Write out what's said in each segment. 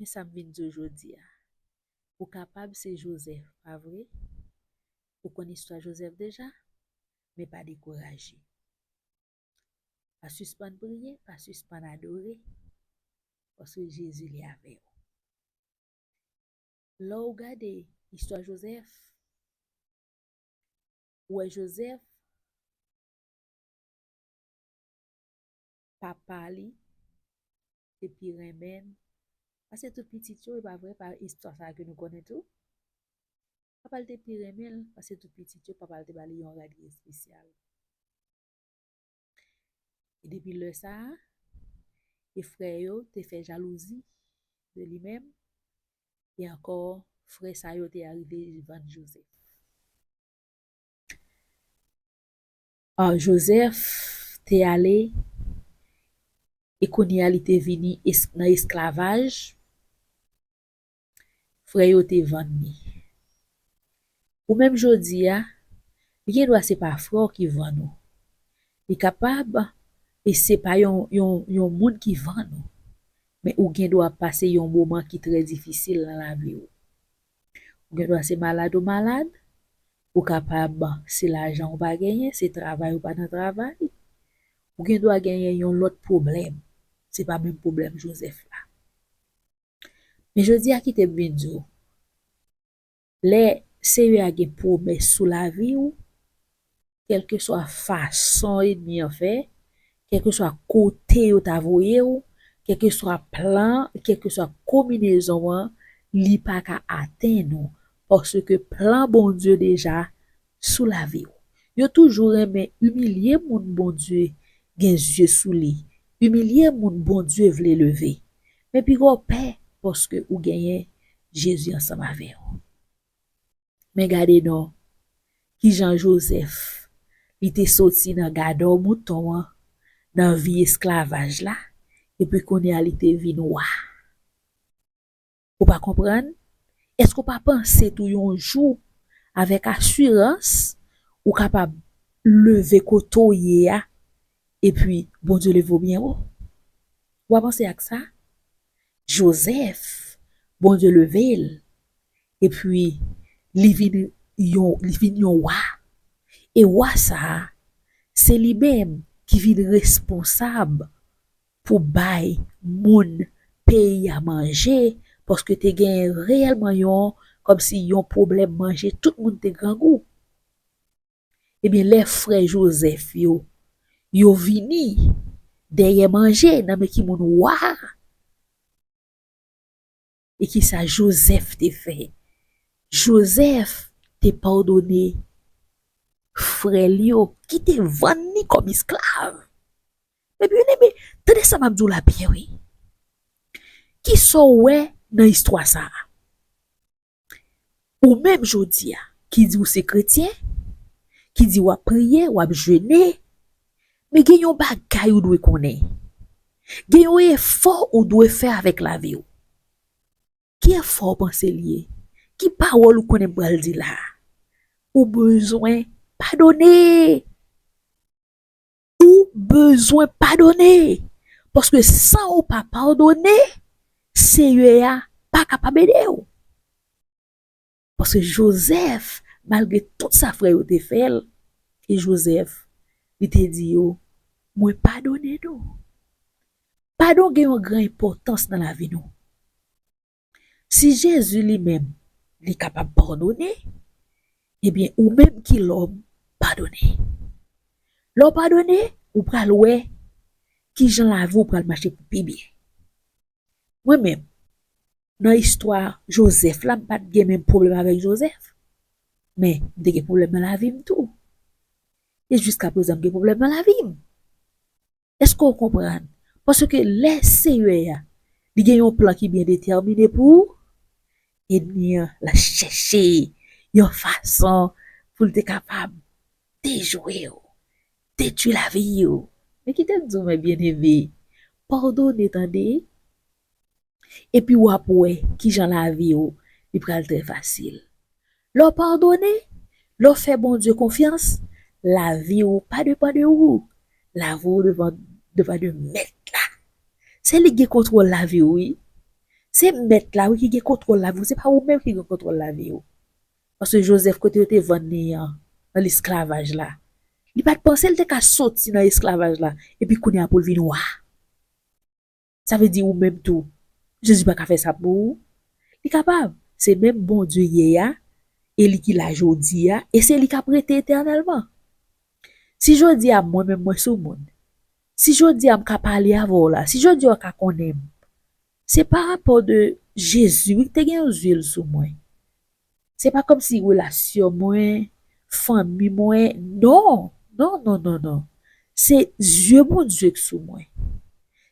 Men sa m vin di w jodi a, ou kapab se Jozèf, pa vre? Ou konn istwa Jozèf deja? Men pa dekouraje. Pa sispann priye, pa sispann adore, paske Jezi li avè w. Lè w gade istwa Jozèf, ou wè Jozèf papa li te pi renmen pase tout pitit yo, e pa vre? Pa istwa sa a ke nou konnen tou? Papa l te pi renmen l pase tout pitit yo, papa l te ba li yon rad ki espesyal. E depi lè sa a, e frè yo te fè jalouzi de li menm, e ankò frè sa yo te arive vann Jozèf. Jozèf te ale e kounye a li te vini nan esklavaj, frè yo te vann li. Ou menm jodi a, li gen dwa se pa frè w ki vann ou. Li kapab se pa yon moun ki vann ou, men ou gen dwa pase yon moman ki trè difisil nan lavi ou. Ou gen dwa se malad ou malad, ou kapab se lajan ou pa genyen, se travay ou pa nan travay, ou gen dwa genyen yon lòt pwoblèm, se pa menm pwoblèm Jozèf la. Men jodi a kite m vin di w, lè Seyè a gen pwomès sou lavi ou, Kèlkeswa fason ènmi an fè, kèlkeswa kote yo ta voye ou, kèlkeswa plan, kèlkeswa konbinezon an, li pa ka atenn ou, paske plan Bondye deja sou lavi ou. Yo toujou renmen imilye moun Bondye gen zye sou li, imilye moun Bondye vle leve. Men pi gwo pè paske ou genyen Jezi ansanm avè ou. Men gade non, ki jan Jozèf, li te soti nan gadò mouton an, nan vi esklavaj la, epi kounye a li te vin wa. Ou pa konprann? Èske ou pa panse tou yon jou, avèk asirans, ou kapab leve kote ou ye a, epi Bondye leve ou byen wo? Ou pa panse ak sa? Jozèf, Bondye leve l, Epi, li vin yon, li vin yon wa. E wa sa a, se li menm ki vin responsab pou bay moun peyi a manje, paske te genyen reyèlman yon, kòmsi yon pwoblèm manje, tout moun te grangou. Ebyen, lè frè Jozèf yo, yo vini dèyè manje nan men ki moun? Wa a. E ki sa Jozèf te fè? Jozèf te padone frè l yo ki te vann li kòm esklav. Mè byeneme, tande sa m ap di w la byen wi. Ki sa w wè nan istwa sa a? Ou menm jodi a, ki di ou se kretyen, ki di w ap priye, w ap jene, men gen yon bagay ou dwe konnen. Gen yon efò ou dwe fè avèk lavi w. Ki efò ou panse li ye? Ki pawòl ou konnen m pral di la a? Ou bezwen padone! Ou bezwen padone. Paske san ou pa padone, Seyè a pa kapab ede ou. Paske Jozèf, malgre tout sa frè yo te fè l, e Jozèf, li te di yo, Mwen padone nou. Padon gen yon gran enpòtans nan lavi nou. Si Jezi li menm li kapab padone, ebyen ou menm ki lòm, padone. Lè w padone, ou pral wè ki jan lavi w pral mache pou pi byen. Mwen menm, nan istwa Jozèf la, m pa t gen menm pwoblèm avèk Jozèf, men m te gen pwoblèm nan lavi m tou. E jiskaprezan m gen pwoblèm nan lavi m. Èske ou konprann? Paske lè Seyè a, li gen yon plan ki byen detèmine pou ou, ènmi an, l ap chèche yon fason pou l te kapab dejwe ou, detwi lavi ou. Men kite m di w, men byeneme, padone tande! epi w ap wè ki jan lavi w li pral trè fasil. Lè w padone, lè w fè Bondye konfyans, lavi w pa depan de ou, lavi w depan de Mèt la. Se li ki gen kontwòl lavi w wi. Se Mèt la wi ki gen kontwòl lavi w, se pa ou menm ki gen kontwòl lavi w. Paske Jozèf kote yo te vann li an, nan lesklavaj la, li pa t panse l te ka soti nan esklavaj la epi kounye a pou l vin wa. Sa vle di ou menm tou, Jezi pa ka fè sa pou ou? Li kapab! Se menm Bondye yè a, e li ki la jodi a, e se li k ap rete etènèlman. Si jodi a mwen menm mwen sou moun, si jodi a m ka pale avè w la, si jodi a ou ka konnen m, se pa rapò de Jezi wi ki te gen yon zye l sou mwen. Se pa kòmsi relasyon mwen, fanmi mwen, non! Non, non, non, non! Se zye Bondye k sou mwen.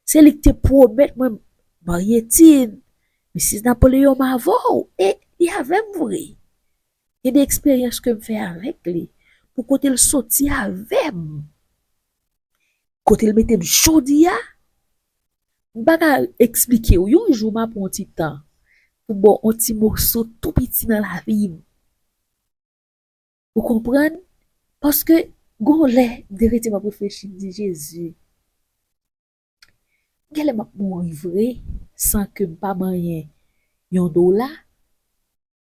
Se li k te pwomèt mwen Mariettine, Missis Napoléon m avè w e li avè m vre. Gen de eksperyans ke m fè avèk li pou kote l soti avè m, kote l mete m jodi a, M pa ka eksplike w. Yon jou m ap pran yon ti tan pou ba w yon ti moso tou piti nan lavi m. Ou konprann? Paske gen yon lè, deretim ap reflechi, m di, Jezi, gen lè m ap mouri vre san ke m pa manyen yon dola.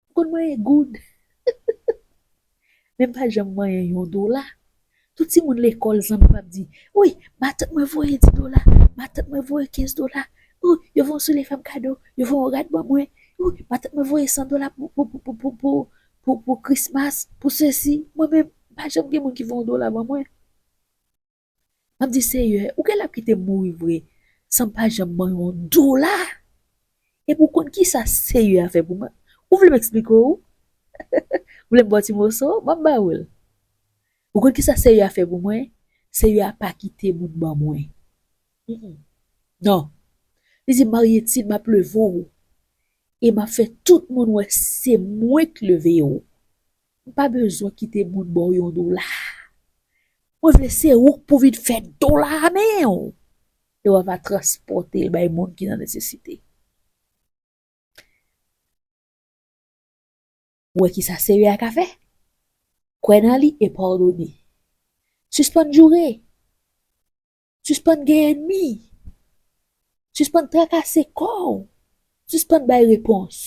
Ou konn manyen goud? Men m pa janm manyen yon dola. Tout timoun lekòl zanmi m ap di, Wi, matant mwen voye di dola, matant mwen voye kenz dola. Wi, yo voye yon soulye fè m kado, yo voye yon rad ban mwen. Wi, matant mwen voye san dola pou krismas, pou sesi. Mwen menm, pa janm gen moun ki voye yon dola ban mwen. Map di seyè ou genlè ap kitem mouri vre sanm pa janm ban yon dola epi ou konn kisa seyè a fè pou mwen ou vlem eksplike w ou vlem baw ti moso map ba ou l ou konn kisa seyè a fè pou mwen seyè a pa kite moun ban mwen nan li di maryetid map leve w e map fè tout moun wè se mwen k leve w. Ou pa bezwen kite moun ba w yon dola. Mwen vle se ou k pou vin fè dola a men w e w a va transpòte l bay moun ki nan nesesite. Ou wè ki sa Seyè a ka fè? Kwè nan li e pardone. Sispann joure. Sispann gen enmi. Sispann trakase kò ou. Sispann bay repons.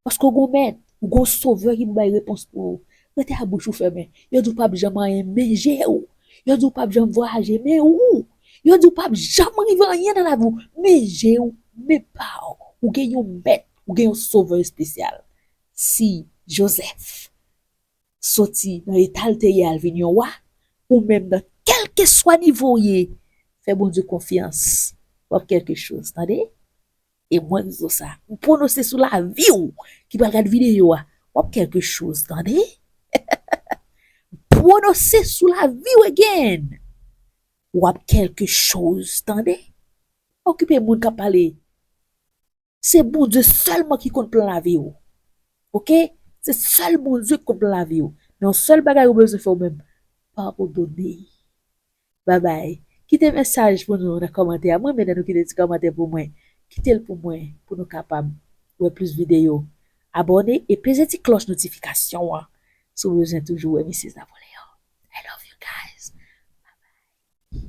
Paske ou gen yon mèt, ou gen yon sovè ki pou bay repons pou ou. Rete a bouch ou fèmen. Yo di ou pap janm anyen men je ou. Yo di ou pap janm vwayaje men ou. Yo di ou pap janm rive anyen nan lavi ou men je ou, men pa ou. Ou gen yon mèt, ou gen yon sovè espesyal. Si Joseph. soti nan etal te ye al vin yon wa ou menm nan kelkeswa nivo ou ye fè Bondye konfyans wap kelke choz tande e mwen di w sa m pwonose sou lavi w ki pral gad video a wap kelke choz tande m pwonose sou lavi w again wap kelke choz tande pa okipe moun kap pale. Se Bondye sèlman ki konn plan lavi ou. Ok, se sèl Bondye ki konn plan lavi ou. Men yon sèl bagay ou bezwen fè ou menm, padone. Babay. Kite mesaj pou nou nan kòmantè a. M renmen lè nou kite ti kòmantè pou mwen. Kite l pou mwen pou nou kapab wè plis videyo. Abòne e peze ti klòch notifikasyon an si w bezwen toujou wè Missis Napoléon. I love you guys. Babay.